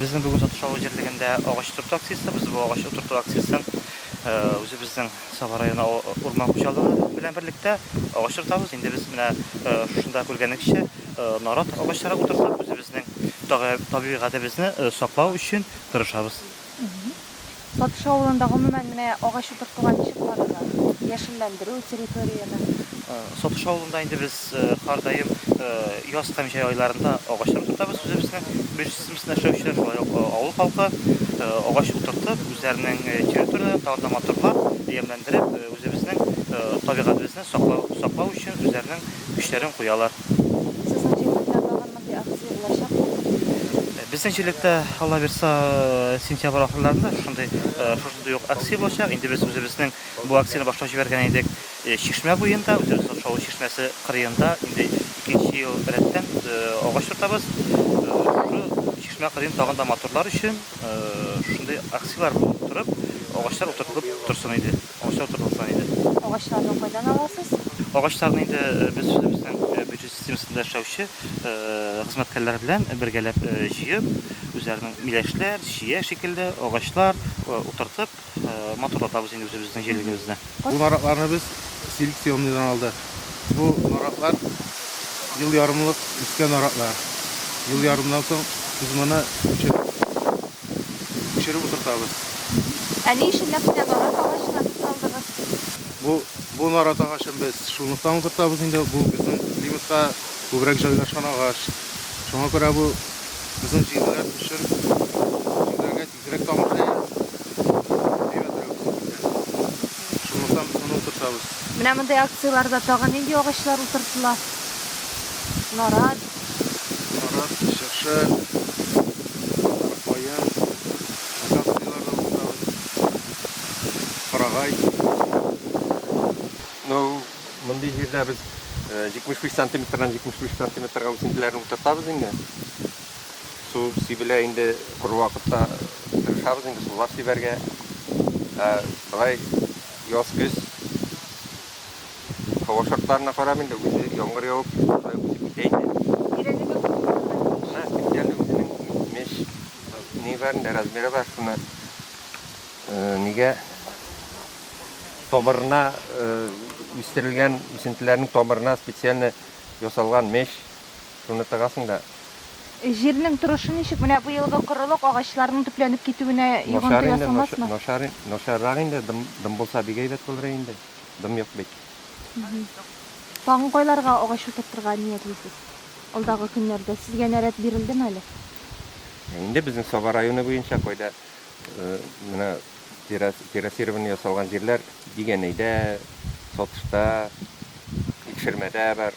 Безнең бүген сатыш алу җирлегендә агач утырту акциясе, без бу агач утырту акциясен үзебезнең Саба районы урман хуҗалыгы белән берлектә агач утыртабыз. Инде без менә шушында күргәнегезчә нарат агачлары утыртып, үзебезнең табигатебезне саклау өчен тырышабыз. Сатыш авылында гомумән менә агач утыртуга ничек карыйлар? Яшелләндерү, территорияне? Сатыш авылында инде без һәр даим яз һәм җәй айларында агачлар утыртабыз. Үзебезнең бизнесымызны эшләүчеләр, шулай ук авыл халкы агач утыртып, үзләренең территорияләрен тагын да матурлап, ямьләндереп, үзебезнең табигатебезне саклау өчен үзләренең көчләрен куялар. Сезнең җирлектә тагын Мондый акция булачакмы? Безнең җирлектә, Алла бирса, сентябрь ахырларында шушындый, шушындый ук акция булачак. Инде без үзебезнең бу акцияне башлап җибәргән идек Чишмә буенда, үзебезнең Шаулы чишмәсе кырыенда. Инде икенче ел рәттән агач утыртабыз. Шушы чишмә кырыен тагын да матурлар өчен шушындый акцияләр булып торып, агачлар утыртылып торсын иде. Агачлар тотылса иде. Агачларны кайдан аласыз? Агачларны инде без үзебезнең бюджет системасында эшләүче хезмәткәрләр белән бергәләп җыеп, үзләренең миләшләр, чия шикелле агачлар утыртып, матурлатабыз инде үзебезнең җирлегебезне. Бу наратларны без селекционныйдан алдык. Бу наратлар ел ярымлык үскән наратлар. Ел ярымнан соң без моны күчереп, Пешереп утыртабыз. Ә ни өчен нәкъ менә нарат агачына туз алдыгыз? Бу, бу нарат агачын без шунлыктан утыртабыз инде, бу безнең климатка күбрәк җайлашкан агач. Шуңа күрә бу безнең җирләр өчен, җирләргә тизрәк тамыр җәя, мейвә теләү тизрәк китә. Шунлыктан без моны утыртабыз. Менә мондый акцияләрдә тагын нинди агачлар утыртыла? Нарат. Сарык, чыршы, каен, акацияләр дә утыртабыз. Карагай. Ну, мондый җирдә без 75 сантиметрдан 75 сантиметрга үсентеләрне утыртабыз инде. Су сибелә инде, коры вакытта тырышабыз инде сулар сибәргә. Ә болай яз-көз Һава шартларына карап инде, үзе яңгыр явып, шулай үсеп китә инде. Тирәнлеге күпме моның? Менә тирәнлеге үзенең меш ни бар инде, размеры бар. Шуны нигә тамырына үстерелгән үсентеләрнең тамырына специально ясалган меш Шуны тыгасың да. Җирнең торышы ничек? Менә бу елгы корылык агачларның төпләнеп китүенә йогынты ясамасмы? Начар инде, начаррак инде. Дым, дым булса бик әйбәт булыр инде. Дым юк бит. Тагын кайларга агач утыртырга ниятлисез? Алдагы көннәрдә сезгә нәрәт бирелдеме әле? Инде безнең Саба районы буенча кайда менә террасирование ясалган җирләр Дигәнәйдә, Сатышта, Икшермәдә бар.